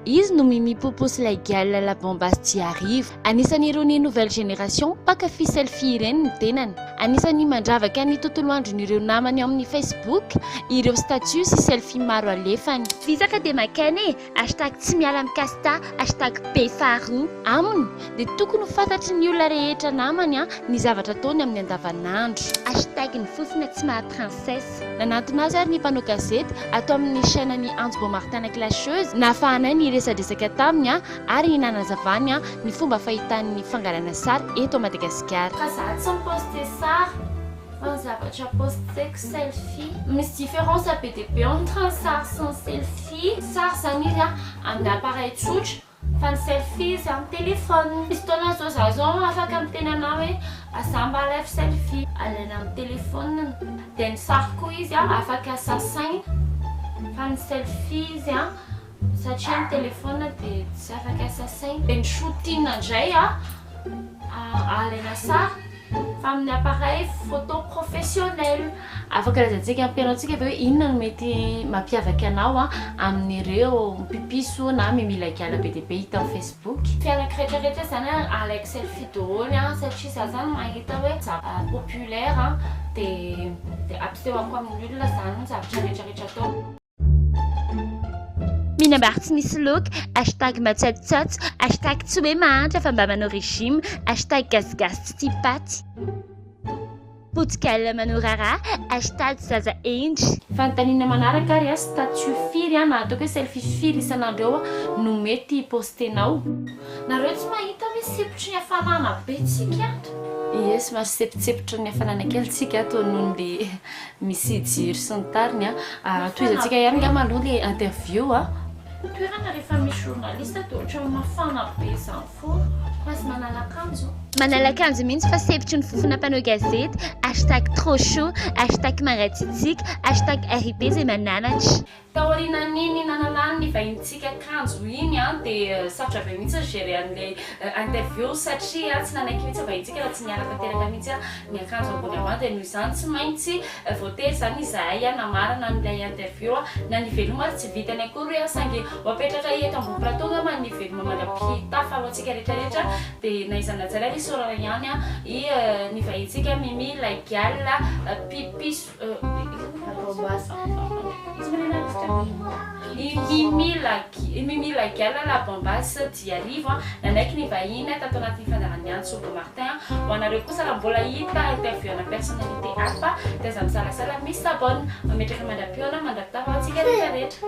Izy no Mimi Popo sy ilay Gialla La Bombass Jiariva. Anisan' irony nouvelle génération mpankafy selfie ireny ny tenany. Anisan'ny mandravaka ny tontolo andron'ireo namany ao amin'ny Facebook ireo statut sy selfie maro alefany. Visa ka dia makaina e! Hashtag tsy miala amin'i Casta, hashtag be faharoa. Aminy dia tokony ho fantatry ny olona rehetra namany ny zavatra ataony amin'ny andavanandro. Hashtag ny fofona tsy maha princesse. Nanantona azy ary ny mpanao gazety ato amin'ny chaîne ny Antso Beau Martin La Clasheuse nahafahanay niresadresaka taminy ary nanazavany ny fomba fahitany ny fangalana sary eto Madagasikara. Fa za tsy mi-poste sary fa ny zavatra posteko selfie. Misy différence be dia be entre ny sary sy ny selfie. Sary zany izy amin'ny appareil tsotra. Fa ny selfie za am telephone. Misy fotoana zao za zao afaka miteny anao hoe za mba alaivo selfie. Alaina am telephone dia ny sary koa izy an afaka sasaina fa ny selfie izy an satria ny telephone dia tsy afaka sasaina. Dia ny shooting ndray an alaina sary. Fa amin'ny appareil photo professionnel. Afaka lazaintsika ampianaontsika ve hoe inona no mety mampiavaka anao amin'ireo mpipiso na mimila gala be dia be hita amin'ny Facebook? Mpianaka rehetra rehetra izany alaiko selfie daholo satria za zany mahita hoe zavatra populaire dia ampisehoko amin'ny olona izany zavatra rehetra rehetra ataoko. Mihinam-bary tsy misy loaka, hashtag matsatsotsatso, hashtag tsy hoe mahantra fa mba manao régime, hashtag gasigasy tsy tia paty, potigalona manao raharaha, hashtag zaza hendry. Fanontaniana manaraka ary a, statut firy na ataoko hoe selfie firy isan'andro eo no mety hi-postenao? Nareo tsy mahita ve sempotry ny hafanana be tsika ato? Yes, mahasepotsepotry ny hafanana kely tsika ato noho ny Misy jiro sy ny tariny a. Tohizantsika ihany ngamba aloha ilay interview a. Toerana rehefa misy journaliste dia ohatran'ny mafana be izany foana fa aza manala akanjo. Manala akanjo mihitsy fa sepitry ny fofona mpanao gazety, hashtag trop chaud, hashtag mangatsiatsiaka, hashtag RIP izay mananatra. Taorianan'iny nananan'ny vahinintsika kanjo iny an, dia sarotra be mihitsy ny gérer an'ilay interview satria tsy nanaiky mihitsy ny vahinintsika raha tsy niala tanteraka mihitsy an ny akanjo ambony ambany, dia noho izany tsy maintsy voatery izany izahay an namarana an'ilay interview an, na ny veloma ary tsy vitany akory an, saingy ho apetraka eto ambony plateau angamba ny veloma mandra-pitafa ho antsika rehetra rehetra, dia na iza na iza ilay isaorana ihany an i ny vahinintsika Mimi ilay gialla pipiso. I Mimi Lagial La Bambass Jiarivo nanaiky ny vahiny tato anatin'ny fandaharan'ny antso Bob Martin. Ho anareo kosa raha mbola hita interview ana personnalité hafa dia aza misalasala mi s'abonne. Mametraka mandra-pihaona mandra-pitaraho antsika rehetra rehetra.